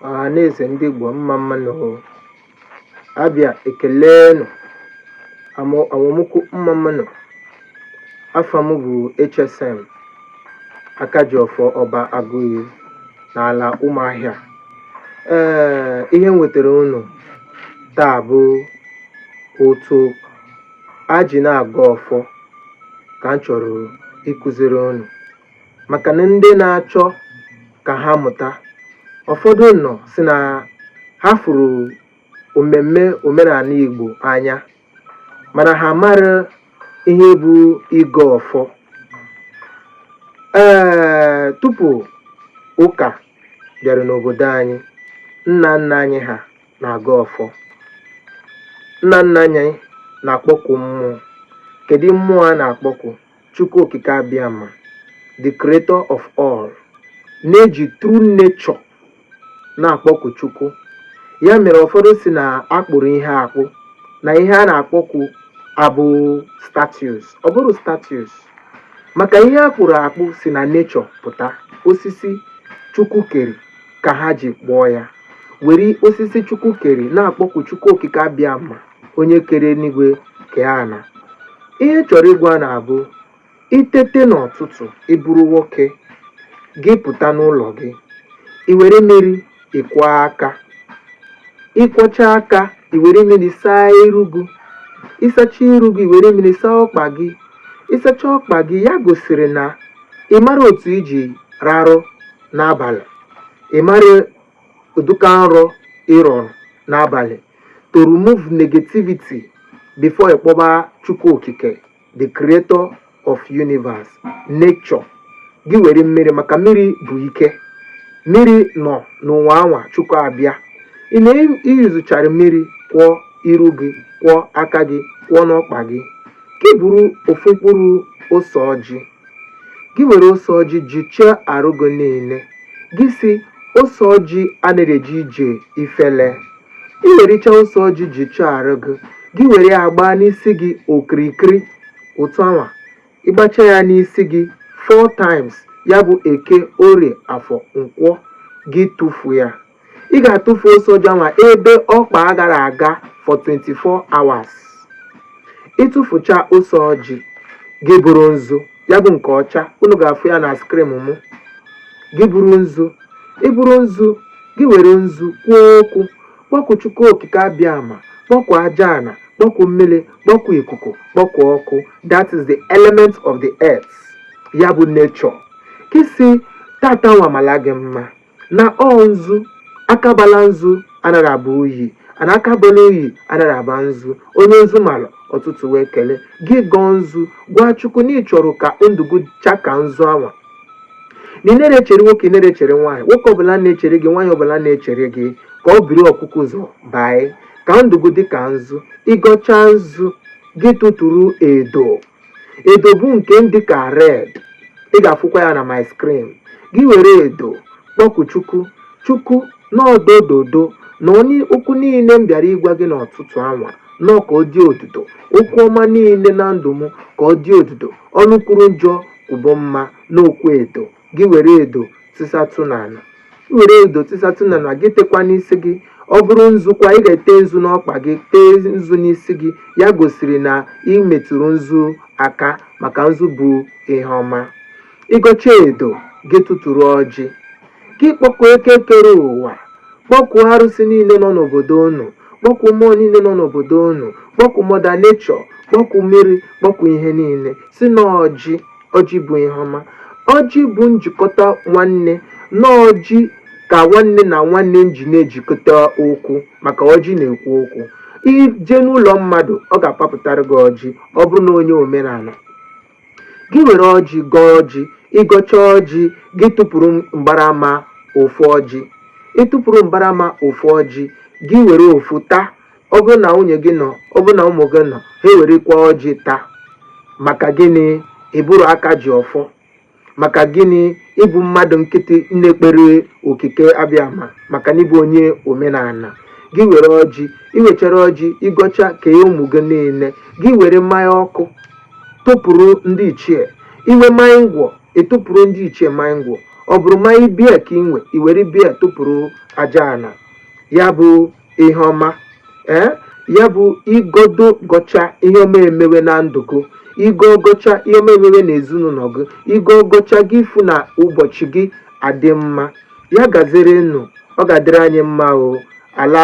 ọhaneze ndị Igbo mma mma nụ abịa ekele nụ awamukwu mma mma nụ afa m bụ HSM Akajiọfọ Ọba Agụiyi n'ala Ụmụahịa ee ihe m wetara unu taa bụ otu a ji na-agọ ọfọ ka m chọrọ ịkụziri unu maka na ndị na-achọ ka ha mụta ụfọdụ nọ sị na ha fụrụ omemme omenala Igbo anya mana ha amara ihe bụ ịgọ ọfọ ee tupu ụka bịara n'obodo anyị nna nna anyị ha na-agọ ọfọ nna nna anyị na-akpọku mmụọ kedu mmụọ a na-akpọku Chukwu Okike Abịama, the creator of all, na-eji through nature na-akpọku Chukwu. Ya mere ụfọdụ sị na a kpụrụ ihe akpụ na ihe a na-akpọku abụ statues. Ọ bụrụ statues maka ihe a kpụrụ akpụ si na nature pụta osisi Chukwu kere ka ha ji kpụọ ya were osisi Chukwu kere na-akpọku Chukwu Okike Abịama onye kere eluigwe kee ana ihe m chọrọ ịgwa unu bụ i tete n'ụtụtụ ị bụrụ nwoke gị pụta n'ụlọ gị i were mmiri kwọọ aka ị kwọcha aka i were mmiri saa iru gị ị sacha iru gị were mmiri saa ọkpa gị ị sacha ọkpa gị ya gosiri na ị mara otu i ji rarụ n'abalị ị mara ụdịka nrọ ị rọrọ n'abalị to remove negativity before ị kpọkuba Chukwu Okike the creator of universe nature gị were mmiri maka mmiri bụ ike mmiri nọ n'ụwa anwa Chukwu abịa ị na-eyuzuchara mmiri kwọọ iru gị kwọọ aka gị kwọọ n'ọkpa gị gị buru ofu mkpụrụ ose ọjị gị were ose ọjị jụchaa arụ gị niile gị sị ose ọjị anaghị eje ije ifele i wericha ose ọjị jụchaa arụ gị gị were ya gbaa n'isi gị okirikiri otu anwa ị gbacha ya n'isi gị four times ya bụ eke orie afọ nkwọ gị tụfuo ya ị ga-atụfu ose ọjị anwa ebe ọkpa agara aga for 24 hours ị tụfucha ose ọjị gị buru nzu ya bụ nke ọcha unu ga-afụ ya na screen mụ gị buru nzu i buru nzu gị were nzu kwuo okwu kpọku chukwu okike abịama kpọku aja ana kpọku mmiri kpọku ikuku kpọku ọkụ that is the element of the earth ya bụ nature gị sị tata nwa mala gị mma Na ọ nzu, aka bala nzu anaghị aba unyi, ana aka bala unyi anaghị aba nzu. Onye nzu mara, ọtụtụ wee kele. Gị gọọ nzu, gwa Chukwu na ị chọrọ ka ndụ gị chaa ka nzu anwa. Na ị naghị echere nwoke, ị naghị echere nwaanyị, nwoke ọbụla na-echere gị, nwaanyị ọbụla na-echere gị, ka o buru ọkụkụ ụzọ baa, ka ndụ gị dị ka nzu. Ị gọchaa nzu, gị tụtụrụ edo. edo bụ nke dịka red ị ga-afụkwa ya na my screen gị were edo kpọku chukwu chukwu n'ọdododo na okwu niile m bịara ịgwa gị n'ọtụtụ anwa nọ ka ọ dị odudo okwu ọma niile na ndụ m ka ọ dị odudo ọnụ kwuru njọ kwube mma n'okwu edo gị were edo tisatụ n'ala i were edo tisatụ n'ala gị tekwa n'isi gị ọ bụrụ nzukwa ị ga-ete nzu n'ọkpa gị tee nzu n'isi gị ya gosiri na ị metụrụ nzu aka maka nzu bụ ihe ọma ị gọchaa edo gị tụtụrụ ọjị gị kpọkuo eke kere ụwa kpọkuo arụsị niile nọ n'obodo unu kpọkuo mmụọ niile nọ n'obodo unu kpọkuo mother nature kpọkuo mmiri kpọkuo ihe niile sị na ọjị ọjị bụ ihe ọma ọjị bụ njikọta nwanne na ọjị ka nwanne na nwanne ji na-ejikọta okwu maka ọjị na-ekwu okwu i jee n'ụlọ mmadụ ọ ga-apapụtara gị ọjị ọ bụrụ na onye omenala gị were ọjị gọọ ọjị ị gọchaa ọjị gị tụpụrụ mgbarama ofu ọjị ị tụpụrụ mgbarama ofu ọjị gị were ofu taa ọ bụrụ na nwunye gị nọ ọ bụrụ na ụmụ gị nọ ha ewerekwa ọjị taa maka gịnị ị bụrụ aka ji ọfọ maka gịnị ị bụ mmadụ nkịtị na-ekpere okike abịama maka na ị bụ onye omenala gị were ọjị i wechara ọjị ị gọchaa kee ụmụ gị niile gị were mmanya ọkụ tụpụrụ ndị ichie i nwee mmanya ngwọ ị tụpụrụ ndị ichie mmanya ngwọ ọ bụrụ mmanya beer ka i nwe i were beer tụpụrụ aja ala ya bụ ihe ọma ee ya bụ ị gọdụ gọchaa ihe ọma emewe na ndụ gị ị gọọ gọchaa ihe ọma emewe na ezinụlọ gị ị gọọ gọchaa gị ị fụ na ụbọchị gị adị mma ya gaziri nụ ọ ga-adịrị anyị mma o ala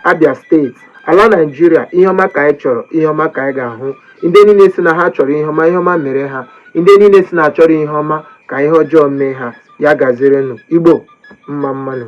abia state ala nigeria ihe ọma ka anyị chọrọ ihe ọma ka anyị ga-ahụ ndị niile sị na ha chọrọ ihe ọma ihe ọma mere ha ndị niile sị na achọrọ ihe ọma ka ihe ọjọọ mee ha ya gaziri nụ igbo mma mma nụ